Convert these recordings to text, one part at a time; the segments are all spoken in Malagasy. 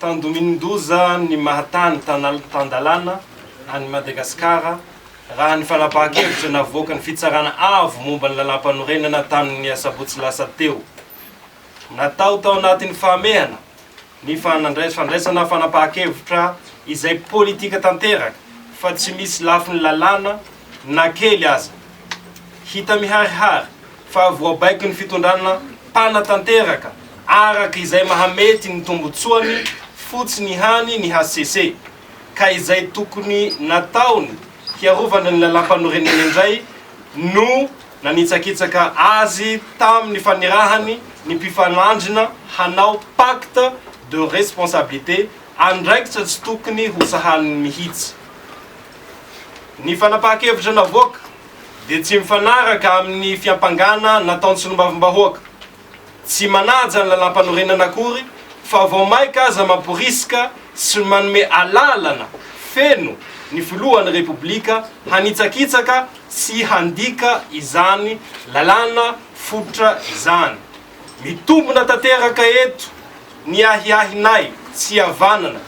Tandomin-doza ny maha-tany tan-dalàna an'i Madagasikara, raha ny fanapahan-kevitra navoakan'ny Fitsarana Avo momba ny Lalàmpanorenana tamin'ny asabotsy lasa teo. Natao tao anatin'ny fahamehana ny fandraisana fanapahan-kevitra izay politika tanteraka fa tsy misy lafiny lalàna na kely aza. Hita miharihary fa voabaikon'ny fitondrana mpanatanteraka araka izay mahamety ny tombotsoany fotsiny ihany ny hcc, ka izay tokony nataony hiarovana ny lalàmpanorenena indray no nanitsakitsaka azy tamin'ny fanirahany ny mpifanandrina hanao pacte de responsabilité, andraikitra tsy tokony hosahaniny mihitsy. Ny fanapahan-kevitra navoaka. dia tsy mifanaraka amin'ny fiampangana nataon'ny solombavambahoaka. Tsy manaja ny lalàmpanorenana akory fa vao maika aza mamporisika sy manome alalana feno ny filohan'ny Repoblika hanitsakitsaka sy handika izany lalàna fototra izany. Mitombina tanteraka eto ny ahiahinay tsy havanana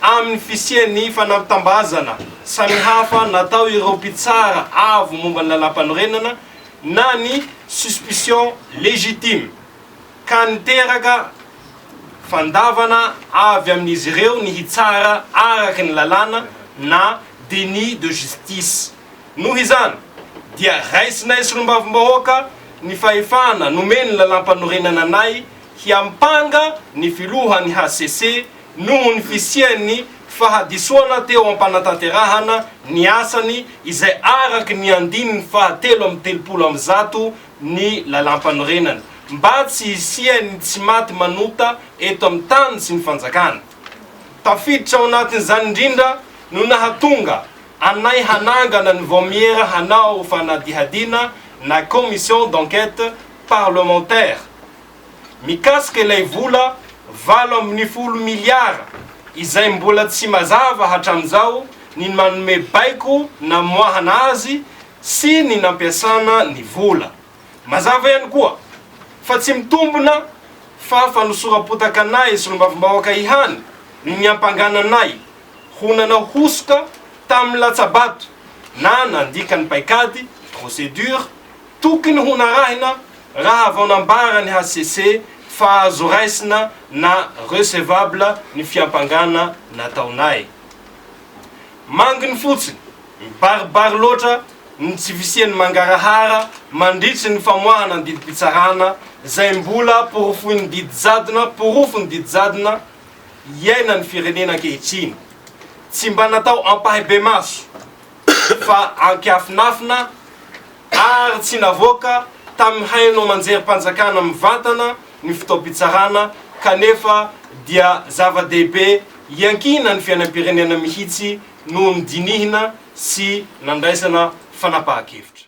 Amin'ny fisian'ny fanambitam-bazana samihafa natao ireo mpitsara avo momba ny Lalàmpanorenana na ny suspicion légitime ka niteraka fandavana avy amin'izy ireo ny hitsara araka ny lalàna na déni de justice. Noho izany dia raisinay Solombavambahoaka ny fahefana nomen'ny Lalàmpanorenana anay hiampanga ny Filohan'ny hcc noho ny fisian'ny fahadisoana teo am-panatanterahana ny asany izay araka ny andininy fahatelo amby telopolo amby zato ny Lalàmpanorenana, mba tsy hisian'ny tsy maty manota eto amin'ny tany sy ny fanjakana. Tafiditra ao anatin'izany indrindra no nahatonga anay hanangana ny Vaomiera hanao fanadihadiana na Commission d'enquête parlementaire, mikasika ilay vola valo ambin'ny folo miliara izay mbola tsy mazava hatramin'izao ny nanome baiko namoahana azy sy ny nampiasana ny vola. Mazava ihany koa fa tsy mitombina fa fanosoram-potaka anay solombavambahoaka ihany no niampangana anay ho nanao hosoka tamin'ny latsa-bato na nandika ny paikady, procédure, Tokony ho narahina raha vao nambara ny hcc fa azo raisina na recevable ny fiampangana nataonay. Manginy fotsiny, mibaribary loatra ny tsy fisian'ny mangarahara mandritry ny famoahana ny didim-pitsarana izay mbola porofoin'ny didy jadona, porofon'ny didy jadona iainan'ny firenena ankehitriny. Tsy mba natao ampahibemaso fa ankiafinafina ary tsy navoaka tamin'ny haino aman-jerim-panjakana mivantana ny fotoam-pitsarana kanefa dia zava-dehibe iankiana ny fiainam-pirenena mihitsy no nodinihina sy nandraisana fanapahan-kevitra.